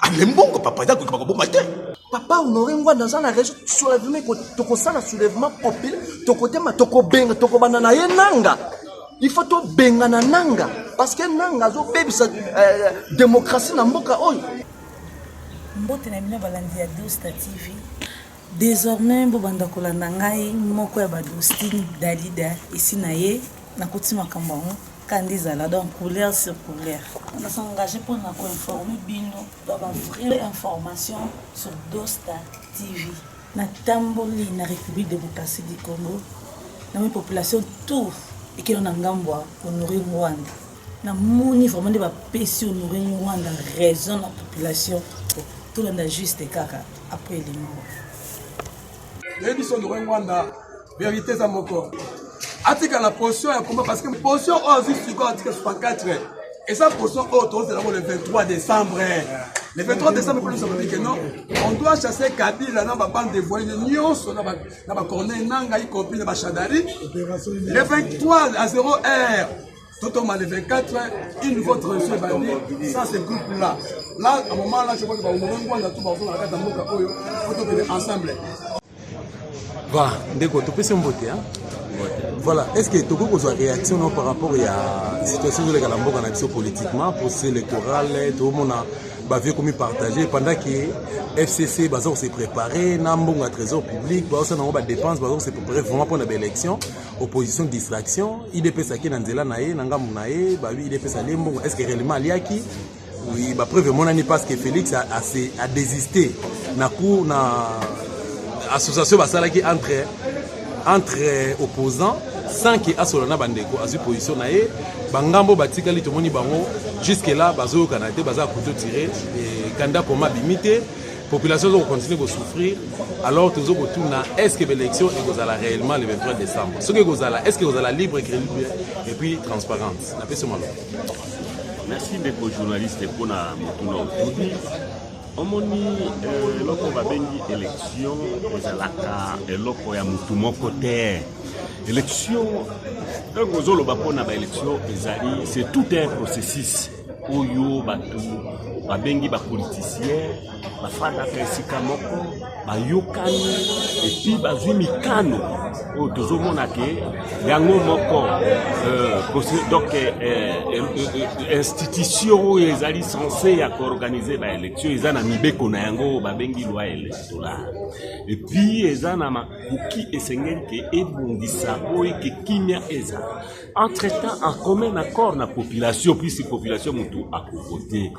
ale mbongo papa eza kokeba koboma te papa honore ngwanda aza na réseau soulèvement tokosala soulèvement populaire tokotema tokobenga tokobanda na ye nanga il faut tobengana nanga parce que nanga azobebisa euh, démocratie na mboka oyo mbote na bino balandi ya dosta tv désormais bobanda kolanda ngai moko ya badostine dalida esi na ye Nakuti makambo yango kanda ezala donc couleur sur couleur na s'engage mpo na koinforme bino ba bavrai information sur dosta tv natamboli na république démocratie du congo namoni population tout ekelo na ngambo ya honore ngwanda namoni vraiment nde bapesi honore ngwanda raison na population tolanda juste kaka après elimo nayebi so honore ngwanda verite eza moko atika na potion ya combat parce que potion oyo azwi sikoyo atika 64 eza potion oyo tozela yango le 23 décembre le 23 décembre mpo losaka bike non on doit chasser kabila na babande de voyine nyonso na bacorneil na ngai compris na bachadari le 23 à 0 heure Totoma le 24, une nouveau transition ebandi, ça se groupe là. Là, à un moment là, je crois que baongolais ngwanda tout bazonga na kati ya mboka oyo, po tokende ensemble. Voilà, ndeko, topesi mbote, hein? Voilà, est-ce que tokoki kozwa réaction no par rapport ya situation ezoleka na mboka na biso politiquement, processus électoral, tokomona bavie komi partage pendant que fcc baza kose préparer na mbongo ya trésor public baosala yango badépense baza kose préparer vraiment mpo na baélection opposition distraction idps ake na nzela na ye na ngambo na ye babi idps alie mbongo est ce que réellement aliaki oui, bapreuve emonani parce que félix adésiste na cour na association basalaki entre entre opposant sans ke asola na bandeko azwi position na ye bangambo batikali tomoni bango jusque là bazoyokana te baza kuto tire kanda koma bimi te population ezo kocontinue kosouffrir alors tozo kotuna est ce que baélection ekozala réellement le 23 décembre soki ekozala est ce que ekozala libre crédible et puis transparente napesi maloba merci ndeko journaliste mpo na motuna otuni omoni euh, eloko babengi élection ezalaka eloko ya motu moko te élection ntango ozoloba mpo na baélection ezali c'est tout un processus oyo bato babengi bapolitisien bafandaka esika moko bayokani epi bazwi mikano oyo tozomona ke yango moko euh, donc euh, euh, institution oyo ezali sense ya koorganize baélection eza na mibeko na yango oyo babengi loi électorale epi eza na makoki esengeli ke ebongisa oyo ke kimia ezala entre temps en commun accord na population puisi population motu akovote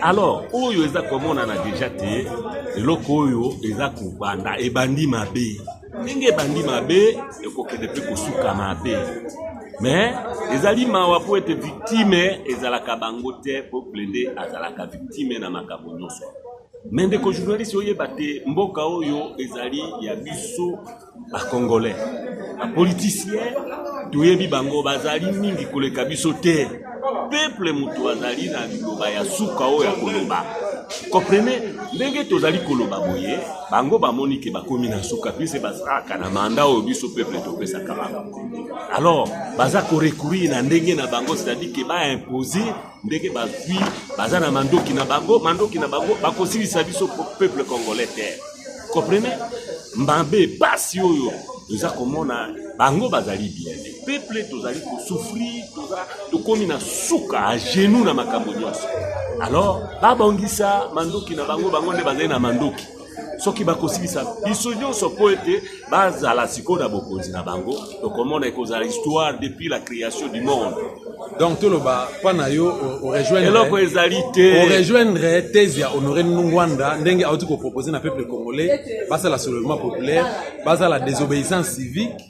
alors oyo eza komonana deja te eloko oyo eza kobanda ebandi mabe ndenge ebandi mabe ekokende mpe kosuka mabe mais ezali mawa mpo ete victime ezalaka bango te mpo plede azalaka victime na makambo nyonso me ndeko journaliste oyeba te mboka oyo ezali ya biso ba congolais ba politiciens toyebi bango bazali mingi koleka biso te peuple moto azali na liloba ya suka oyo ya koloba comprene ndenge tozali koloba boye bango bamoni ke bakomi na suka pise bazalaka na manda oyo biso peuple topesaka bango alors baza korecourir na ndenge na bango c'est-à-dire ke baimpose ndenge bazwi baza na mandoki na bango mandoki na bango bakosilisa biso peuple congolais te comprene mabe pasi oyo toza komona bango bazali bien peuple tozali kosouffrir toza tokomi na suka a genou na makambo nyonso alors babongisa mandoki na bango bango nde bazali na mandoki soki bakosilisa biso nyonso mpo ete bazala sikoyo na bokonzi na bango tokomona ekozala histoire depuis la création du monde donc toloba mpo na yo orejoindreeloko ezali te orejoindre thèse ya honore nungwanda ndenge auti kopropose na peuple congolais basala soulèvement populaire bazala désobéissance civique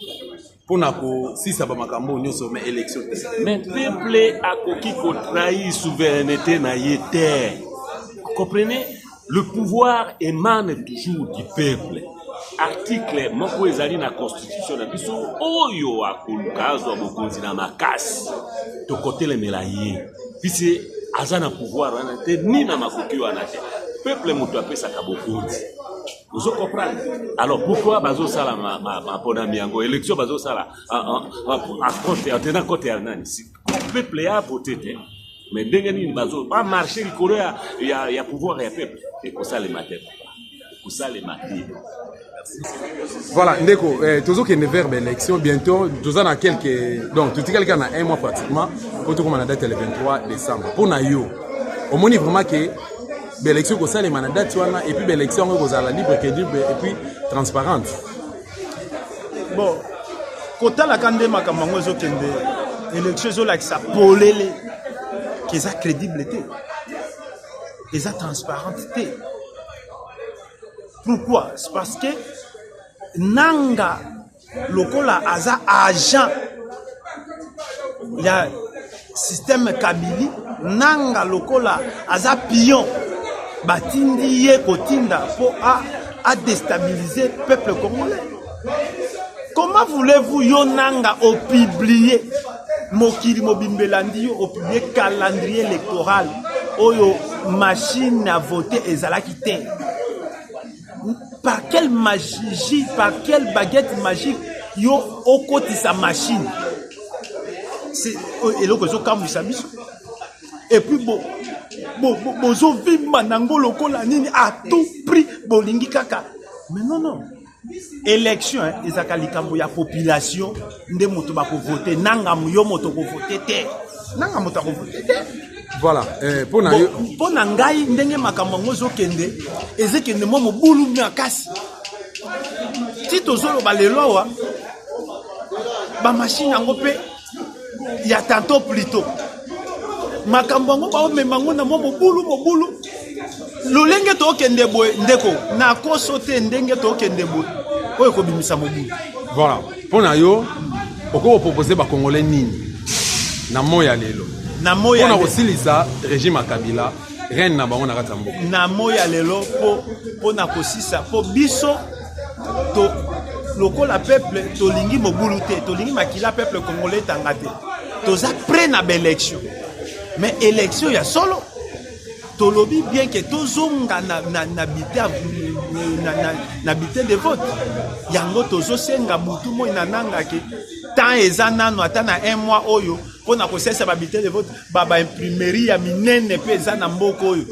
mpo na kosisa bamakambo oyo nyonso ma élection te mais peuple akoki kotrahir souveraineté na ye te comprenez le pouvoir emane toujours du peuple article moko ezali na constitution na biso oyo akoluka azwa bokonzi na makasi tokotelemela ye pise aza na pouvoir wana te ni na makoki wana te peuple moto apesaka bokonzi ozo comprendre alors pourquoi bazosala maponami yango élection bazosala en tenant compte ya nani peuple ya vote te mais ndenge nini bazo bamarche likolo ya, ya, ya pouvoir ya peuple ekosalema te ekosalema te voilà ndeko eh, tozokende vers baélection bientôt toza na quelque donc totikali kaka na un mois pratiquement mpo tokoma na date ya le 23 décembre mpo na yo omoni vraiment ke baélection ekosalema na date wana epuis baélection yango ekozala libre credible epuis transparente bon kotalaka nde makambo yango ezokende élection ezolakisa polele ke eza crédible te eza transparente te pourquoi c'est parce que nanga lokola aza agent ya système kabili nanga lokola aza pion batindi ye kotinda mpo adestabilise peuple congolais comment voulez-vous yo nanga opublie mokili mobimba elandi yo opublie calendrier électoral oyo machine ya vote ezalaki te par quelle magie par quelle baguette magique yo okotisa machine eloko ezokamwisa biso epuis bozovimba bo, bo nango lokola nini à tout prix bolingi kaka mais non non élection ezalaka likambo ya population nde moto bakovote nanga yo moto okovote te nanga moto akovote te voilà eh, mpo na yo mpo na ngai ndenge makambo yango ezokende ezekende mwa mobulu makasi ti tozoloba lelo awa bamashine yango mpe ya tanto plito makambo yango baomema yango na mwa mobulu mobulu lolenge tokende boye ndeko nakoso te ndenge tokende boye oyo ekobimisa mobulu voilà mpo na yo okoki kopropose bakongole nini na moi ya lelo na moi ya kosilisa régime ya kabila reine na bango na kati ya mboka na moi ya lelo mpo mpo na kosisa mpo biso to lokola peuple tolingi mobulu te tolingi makila peuple congolais etanga te toza près na baélection mais élection ya solo tolobi bien ke tozonga na, na, na bite na, na, na bite de vote yango tozosenga butu moi na nanga ke temps eza nano ata na un mois oyo mpo na kosalisa babite de vote babaimprimerie ya minene mpe eza na mboka oyo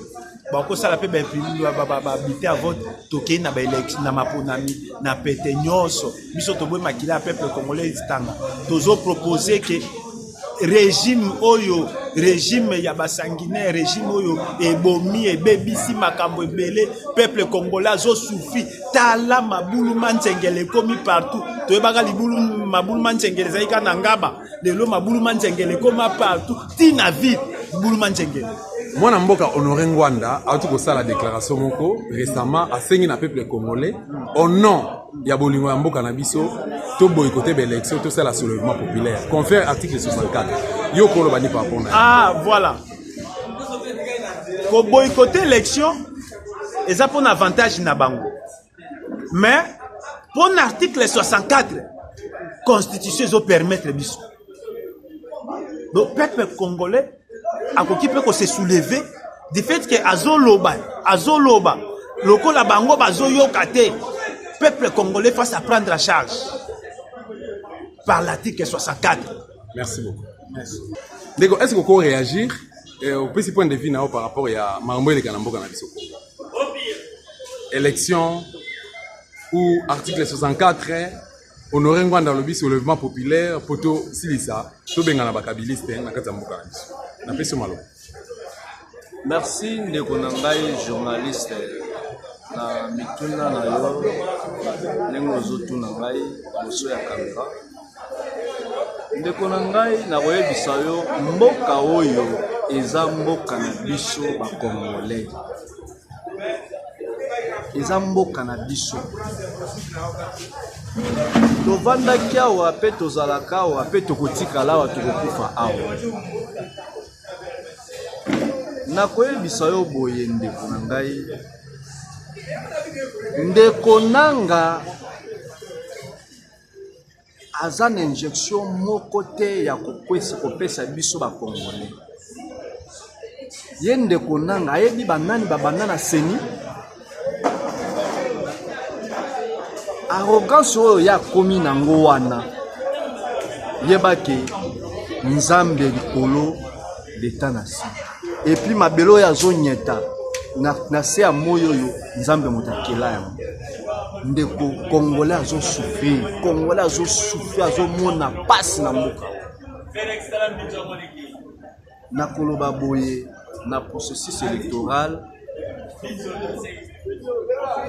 bakosala mpe babite ya vote tokei na baelection na maponami na pete nyonso biso toboyi makila ya peuple congolais etanga tozopropose ke regime oyo regime ya basanguinaire regime oyo ebomi ebebisi makambo ebele peuple congolais azosufri tala mabulu manzengele ekomi partout toyebaka libulu mabulu manzengele ezali kaka na ngaba lelo mabulu manzengele ekoma partout ti na ville libulu manzengele mwana mboka honore ngwanda auti kosala déclaration moko récemment asengi na peuple congolais au nom ya bolingo ya mboka na biso to boyikote ba élection tosala soulèvement populaire confère article 64 yo koloba ni papona ah voilà koboyikote élection eza mpona avantage na bango mais mpona article 64 constitution ezopermettre biso donc peuple congolais akoki mpe ko se soulever du fait que azoloba azoloba lokola bango bazoyoka te peuple congolais face à prendre à charge par l'article 64 merci beaucoup merci ndeko est ce que koréagir eh, opesi point de vue na yo par rapport ya makambo eleka na mboka na biso congo élection ou article 64 Honore Ngwanda alobi soulèvement populaire mpo tosilisa tobengana bakabiliste na kati ya mboka na biso. Napesi yo maloba. Merci ndeko na ngai journaliste na mituna na yo ndenge ozotuna ngai liboso ya kamera. Ndeko na ngai nakoyebisa yo mboka oyo eza mboka na biso bakongolais. eza mboka na biso tovandaki awa mpe tozalaka awa mpe tokotikala awa tokokufa awa nakoyebisa yo boye ndeko na ngai ndeko nanga aza na injection moko te ya kokwesa kopesa biso bakongole ye ndeko nanga ayebi banani babanda na seni arrogance oyo ye akomi nango wana yebaki nzambe likolo leta na si epuis mabele oyo azonyeta na, na se ya moi oyo nzambe moto akela yango ndeko congolais azosouffrir congolais azosouffrir azomona mpasi na mboka nakoloba boye na processus électoral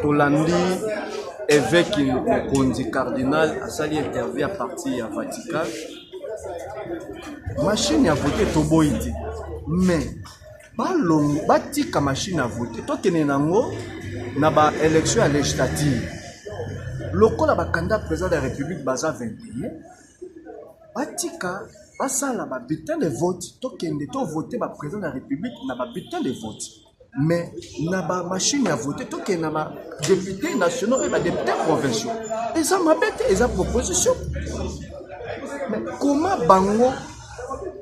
tolandi eveki mokonzi cardinal asali interview ya parti ya vatican mashine ya vote toboyi te mais balongo batika mashine ya vote tokende nango na baélection ya législative lokola bakanda président de la république baza 21 batika basala ba bulletin de vote tokende to vote ba président de la république na ba bulletin de vote mais na ba machine ya vote tokende na ba député nationaux mpe ba député provinciaux eza mabe te eza proposition mais koma bango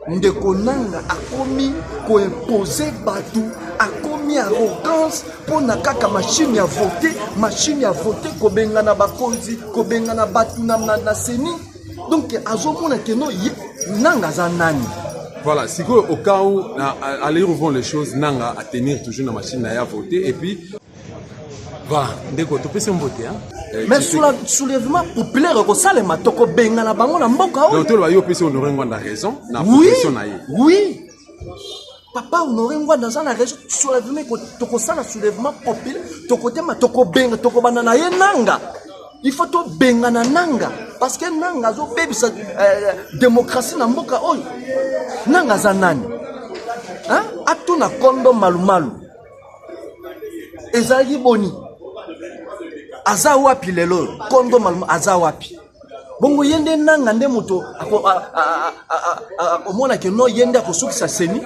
ndeko nanga akomi koimpose bato akomi arrogance mpo na kaka mashine ya vote mashine ya vote kobengana bakonzi kobengana bato na, na, na seni donc azomona keno nanga aza nani voilà sikoyo au cas où na, à, à les choses nanga à tenir toujours na machine na ya vote et puis va ndeko topesi mbote eh, mais soulèvement populaire ekosalema tokobengana bango na mboka oyotoloba yo opesi honore ngwanda raison na position na ye oui papa honore ngwanda aza na raison soulèvement tokosala soulèvement populaire tokotema tokobenga tokobanda na ye nanga il faut tobengana nanga parce que nanga azobebisa euh, démocratie na mboka oyo nanga aza nani atuna kondo malumalu ezalaki boni aza wapi lelo oyo kondo malmo aza wapi bongo ye nde nanga nde moto akomona ke no ye nde akosukisa seni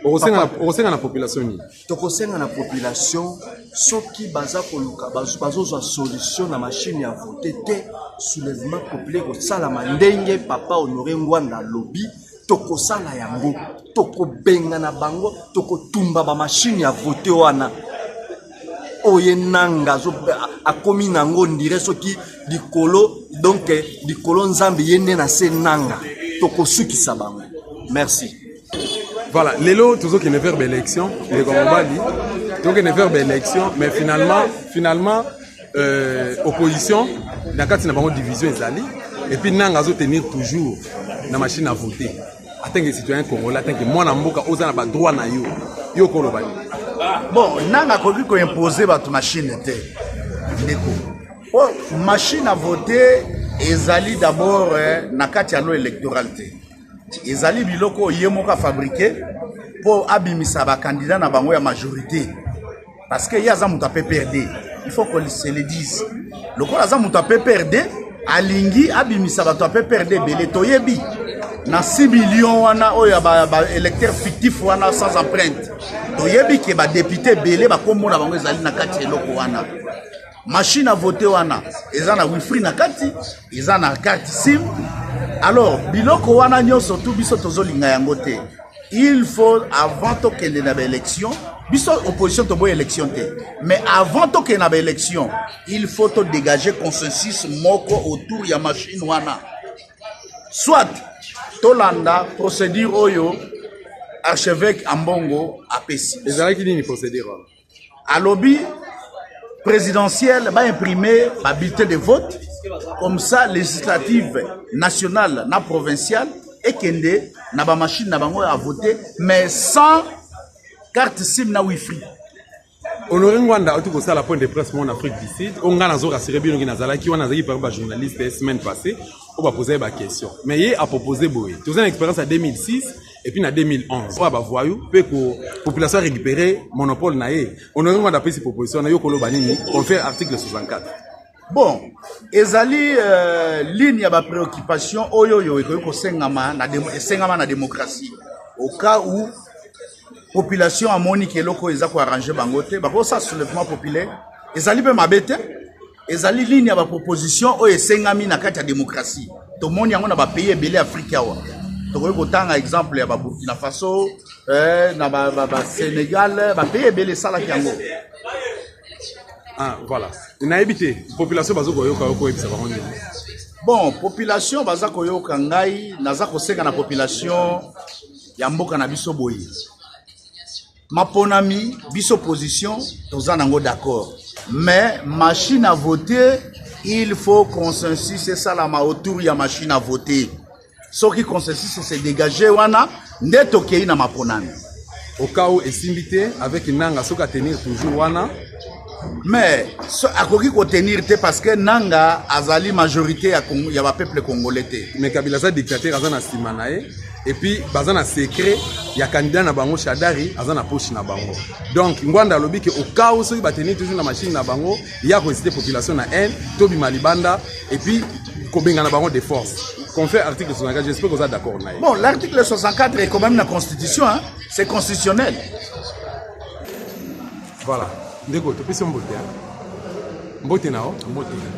okosenga na population nini tokosenga na population soki baza koluka bazozwa solution na mashine ya vote te soulèvement populaire kosalama ndenge papa honore ngwanda alobi tokosala yango tokobengana bango tokotumba bamashine ya vote wana oye nanga akomi nango ndire soki likolo donk likolo nzambe ye nde na se nanga tokosukisa bango merci voilà lelo tozokende verbe élection ndeko mobali tokende verbe élection mais finalement finalement euh, opposition na kati na bango division ezali et puis nanga azo tenir toujours na machine à voter atanke citoyen congolais atanke mwana mboka oza na ba droit na yo yo koloba nini bon nanga akoki ko imposer bato machine te ndeko po oh, machine à voter ezali d'abord eh, na kati ya lo électoral te ezali biloko ye moko afabrike mpo abimisa bakandida na bango ya majorité parce que ye aza moto ya pprd il faut qu'on se le dise lokola aza moto ya pprd alingi abimisa bato ya pprd ebele toyebi na 6 million wana oyo ya baélecteur ba fictif wana sans empreinte toyebi ke badepute ebele bakombo na bango ezali na kati ya eloko wana machine à voter wana eza na wifi na kati eza na carte sim alors biloko wana nyonso tu biso tozolinga yango te il faut avant tokende na baélection biso opposition toboya élection te mais avant tokende na baélection il faut todégage consensus moko autour ya machine wana soit tolanda procédure oyo archevêque ambongo apesi ezalaki nini procédure wana alobi présidentielle ba imprimer ba bulletin de vote comme ça législative nationale na provinciale ekende na ba machine na bango ya voter mais sans carte sim na wifi honore ngwanda auti kosala point de presse mon afrique du sud oyo ngai nazo rassure bino ki nazalaki wana nazalaki parmi bajournaliste semaine passée oyo baposa ye baquestion mais ye apropose boye toza na expérience ya 2006 et puis na 2011 oyo bavoyou mpe population récupéré monopole na ye honoré ngwanda apesi proposition na yo koloba nini confère article 64 bon ezali euh, ligne ya bapréoccupation oyo oyo ekoki kosengama na esengama na démocratie au cas où population amoni ke eloko oyo eza koarrange bango te bakosala soulèvement populaire ezali mpe mabe te ezali lini ya baproposition oyo esengami na kati ya demokrasi tomoni yango na bapays ebele afrika awa tokoki kotanga exemple ya baburkina faso eh, na basenegal ba, ba bapays ebele esalaki yango ah, voilà nayebi te population bazo koyoka yo koyebisa bango nini bon population baza koyoka ngai naza kosenga na population ya mboka na biso boye maponami biso position toza nango d'accord mais machine à voter il faut consensus esalama autour ya machine à voter soki consensus ese dégage wana nde tokei na maponami au cas où esimbi te avec nanga soki atenir toujours wana mais so, akoki kotenir te parce que nanga azali majorité ya, Cong ya bapeuple congolais te mais kabila aza dictateur aza na nsima na ye epuis baza na secret ya candidat na bango shadari aza na poche na bango donc ngwanda alobi ke okao soki batenir toujours na machine na bango ya koesite population na haine tobima libanda epuis kobengana bango de force confère article 64 j'espère que oza d'accord na ye bon l'article 64 ekomami na constitution hein? c'est constitutionnel Voilà, ndeko topesi mbote hein? mbote na yo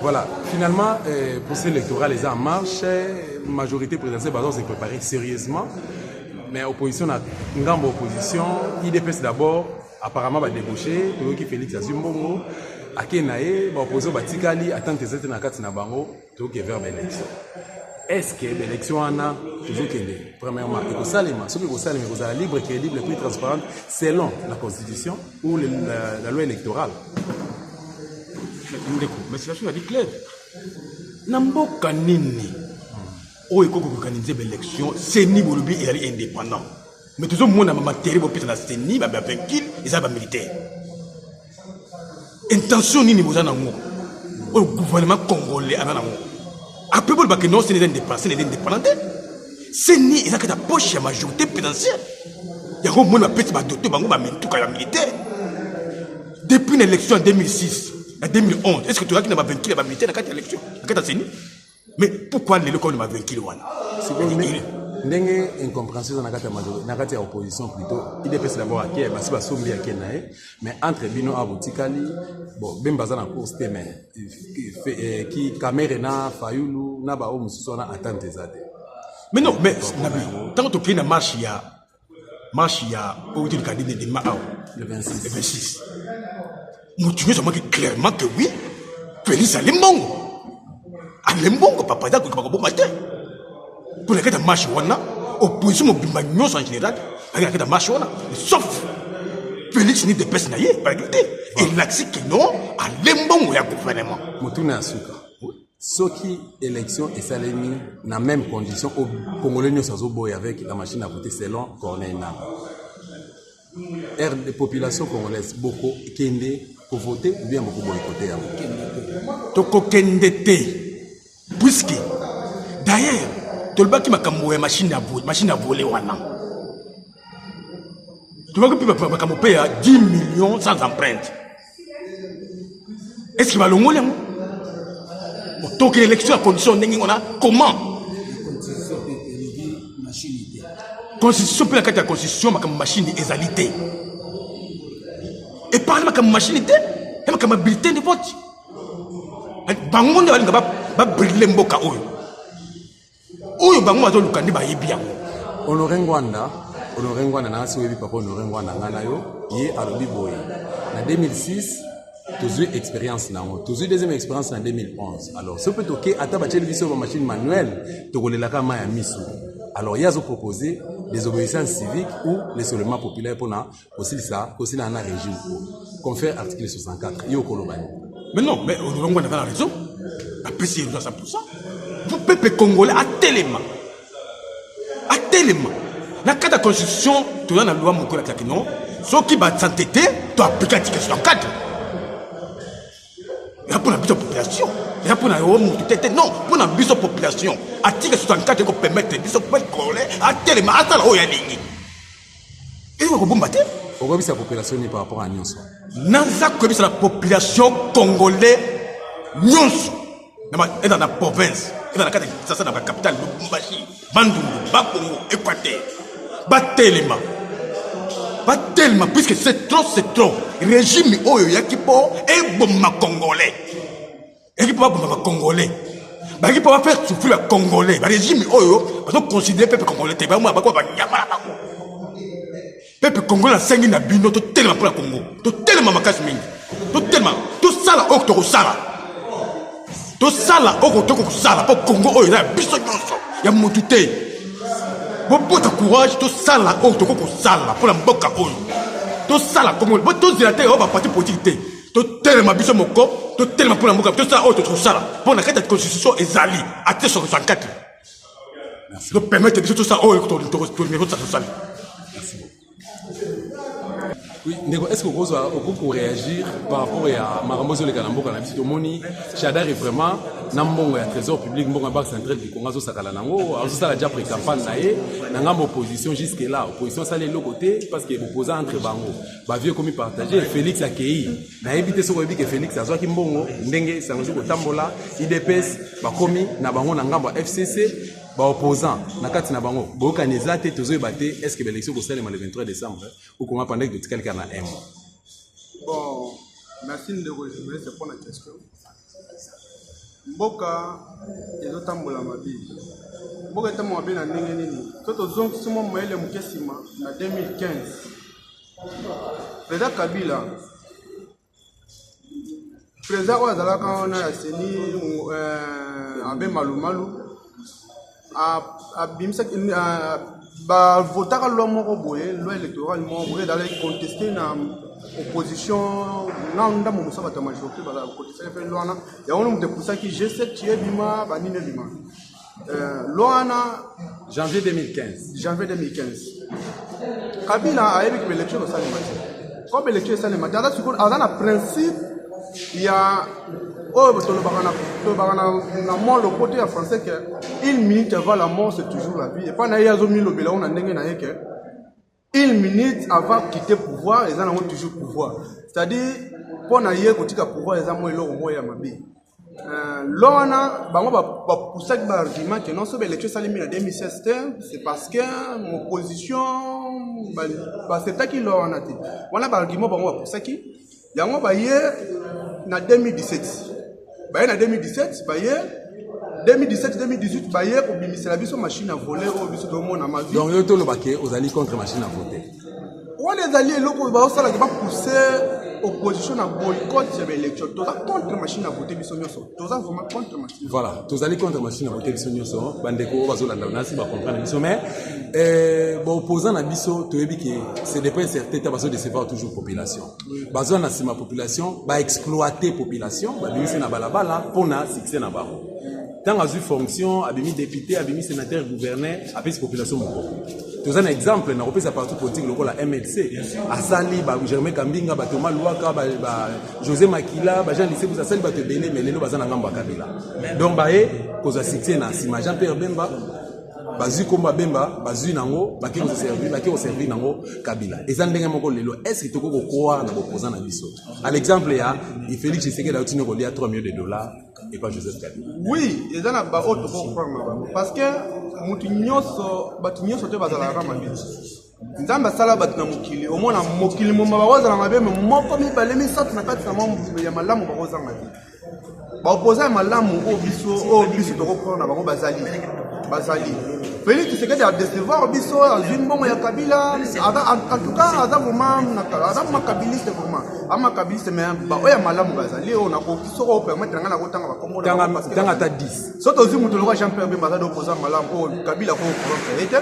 voilà finalement euh, procès électoral eza en marche majorité présidentielle bazo se préparer sérieusement mais opposition na ngambo opposition idps d'abord apparemment badébauché toyoki félix azwi mbongo ake na ye baopozo batikali atante eza te na kati na bango toke vers baélection est-ce que baélection wana tozokende premièrement ekosalema soki ekosalema ekozala libre crédible puis transparente selon la constitution ou la, la, la loi électorale ndeko mais situation ezali claire na mboka nini oyo ekoki koorganize baélection seni bolobi ezali indépendant mais tozomona bamatere bopesa na seni bavainquile eza bamilitaire intention nini boza nango oyo gouvernement congolais aza nango apres bolobake non seni eza indépendant seni eza indépendant te seni eza kati ya poche ya majorité présidentielle yango omoni bapesi badote bango bamituka ya militaire depuis na élection ya 2006 na 2011 est ce que toyaki na bavainture ya bamilitaire na kati ya élection na kati ya seni mais pourquoi lelo koni bavenkile wana ndenge incompréhension eza na kati ya majorité na kati ya opposition plutôt idps d'abord ake basi basombi ake na ye mais entre bino awa botikali bon bemba aza na course te mais eh, ki kamere na fayulu na baoyo mosusu wana attente eza te mais non mais nabi ntango tokei na marche ya marche ya outi likadi nde dema awa le 26 moto nyonso amaki clairement que oui félix ale mbongo ale mbongo papa eza kokoka koboma te mpo na kati ya marche wana opposition mobimba nyonso en général bazali na kati ya marche wana sauf félix ni depese na ye balaki te elakisi kino ale mbongo ya gouvernement motuna ya suka soki élection esalemi na même condition au congolais nyonso azoboya avec la machine à voter selon corneille nanga rd population congolaise bokokende kovote ou bien bokoboye kote yango tokokende te puiske d'ailleurs tolobaki makambo ya machine ya machine ya vole wana tolobaki mpe makambo mpe ya 10 millions sans empreinte eske balongoli yango tokende élection ya condition ndenge ngo na comment constitution mpe na kati ya constitution makambo mashini ezali te eparle makambo mashini te ya makambo ya bulletin de vote bango nde balinga babrile mboka oyo oyo bango bazoluka nde bayebi yango honore ngwanda honore ngwanda na asi oyebi papa honore ngwanda ngai na yo ye alobi boye na 2006 tozwi expérience na yango tozwi deuxième expérience na 2011 alors soki mpe toke ata batyeli biso bamachine manuel tokolelaka mai ya miso alors ye azopropose desobéissance civique ou lesolement populaire mpona kosilisa kosila na regime oyo confère article 64 yo okoloba nini mais non mais olongo na kala raison apesi ye 100% po pepe congolais atelema atelema na kati ya constitution toza na loi moko elakisaki non soki basante te to aplike article 64 eza mpo na biso population eza mpo na yo motu te te non mpo na biso population article 64 ekopermettre biso pepe congolais atelema asala oyo alingi ekoki kobomba te okobisa population ni par rapport à nyonso naza koyebisa na population congolais nyonso eza na province eza na kati ya kisasa na bacapital lubumbashi bandundu bakongo equateur batelema batelema puisque c'est trop c'est trop régime oyo eyaki mpo eboma congolais eki mpo baboma bacongolais balingi mpo bafaire souffrir ya congolais barégime oyo bazoconsidere pepe congolais te bamona bakoma banyama na bango pepe congolais asengi na bino totelema mpo na congo totelema makasi mingi totelema tosala oyo tokosala tosala oyo kotoki kosala mpo congo oyo eza ya biso nyonso ya motu te bobota courage tosala oyo tokoki kosala mpo na mboka oyo tosala congo tozela te oyo baparti politike te totelema biso moko totelema mpo na mboka tosala oyo tokosala mpo na kati ya constitution ezali ate soko 64 topermete biso tosala oyo tosali Oui, ndeko, est-ce que vous avez réagir par rapport à Marambo Zoleka na mboka na biso tomoni Chadari vraiment na mbongo ya trésor public mbongo ya banque centrale du Congo azosakala nango azosala déjà pré-campagne na ye na ngambo opposition jusque là opposition asali eloko te parce que opposant entre bango bavie ekomi partage félix akei nayebi te soki oyebi ke félix azwaki mbongo ndenge esango ezwi kotambola idps bakomi na bango na ngambo ya fcc baopposant na kati na bango boyokani eza te tozoyeba te est ce que baelektion kosalema le 23 décembre okoma pandaki totikali kaka na un mois bon merci ndeko journaliste mpo na question mboka ezotambola mabe mboka etambola mabe na ndenge nini to tozongisi mwa mayele moke nsima na 2015 president kabila president oyo azalaka wana ya seni eh, abe malumalu abimisaki bavotaka loi moko boye loi électorale moko boye ezalaki conteste na opposition na ndambo mosusu bato ya majorité bakotisaki mpe loi wana yango nde moto epusaki g7 ci ebima banini ebima euh, loi wana janvier 2015 janvier 2015 kabila ayebi ke baelection esalema te comme election esalema te aza sikoyo aza na principe ya oyo tolobaka na tolobaka na, na mwa lopoto ya français ke une minute avant la mort c'est toujours la vie epai na ye azomilobela yango na ndenge na ye ke une minute avant quitter pouvoir eza nango toujours pouvoir c'est-à-dire mpo na ye kotika pouvoir eza mwa eloko moko ya mabe euh, lelo wana bango bapusaki baargument ke non soki baélection esalemi na 2016 te c'est parce que opposition baacceptaki lelo wana te wana baargument bango bapusaki yango baye na 2017 baye na 2017 baye 2017 2018 baye kobimisela biso machine ya vole oyo biso tomona mavi donc yo toloba ke ozali contre machine ya vote wana ezali eloko baosalaki bapousse opposition na boycott ya baélection toza contre machine à voter biso nyonso toza vraiment contre machine voilà tozali contre machine à voter biso nyonso bandeko oyo bazolanda nasi bacomprendre biso mais euh, baopposant na biso toyebi ke c'est dépend certain ta bazodecevoir toujours population baza na nsima population baexploite population babimisi na balabala mpo na succès na bango ntango azwi fonction abimi député abimi sénateur gouverneur apesi population moko toza na exemple na kopesa parti politique lokola mlc asali ba germain kambinga ba thomas luaka ba, ba josé makila ba jean lisebus asali bato ebele me lelo baza na ngambo ya kabila donc baye kozwa succès na nsima jean pierre bemba bazwi nkombo ya bemba bazwi nango bake koservi bake koservi nango kabila eza ndenge moko lelo estce tokoki kokroire na bopoza na biso à l'exemple ya félix tshisekedi auti ne kolia 3 millions de dollars epa joseph kabila oui eza na baoyo tokoki kokroire na bango parce que motu nyonso bato nyonso te bazalaka mabe nzambe asala bato na mokili omona mokili moma bakozala mabe me moko mibale misato na kati na mwa ya malamu bakozanga te baopoza ya malamu oyo biso oyo biso tokokona na bango bazali bazali felix tshisekedi adecevoir biso azwi mbongo ya kabila antuka aza vraimenaaza makabiliste vraimen amakabiliste me baoyo ya malamu bazali oyo nakoki soko opermetre ngai nakotanga bakomotanga ata 10 so tozwi moto lokola jean pierre bemba aza dopoza malamu oyo kabila kokorontre ye te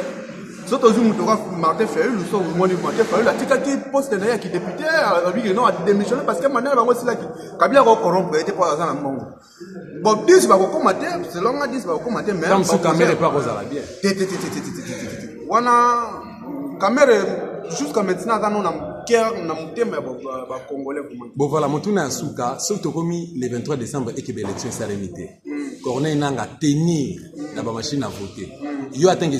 soki tozwi moto kaka martin fayulu so omoni martin fayulu atikaki poste na ye ya kidepute abiki non ademissione parce que mandat na bango esilaki kabila akokorompre ye te mpo aza na mbongo bon 10 bakokoma te selon nga 10 bakokoma te wana kamere jusqu'à maintenant aza no na cœur na motema ya bacongolais bon voilà motuna ya suka soki tokomi le 23 décembre ekebe élection esalemi te hmm. corneille nanga tenir na bamachine à voter hmm. yo atangi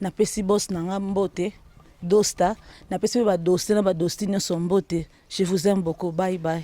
Napesi boss na nga mbote Dosta, napesi pe ba Doste na ba Dosti nionso mbote. Je vous aime beaucoup. Bye bye.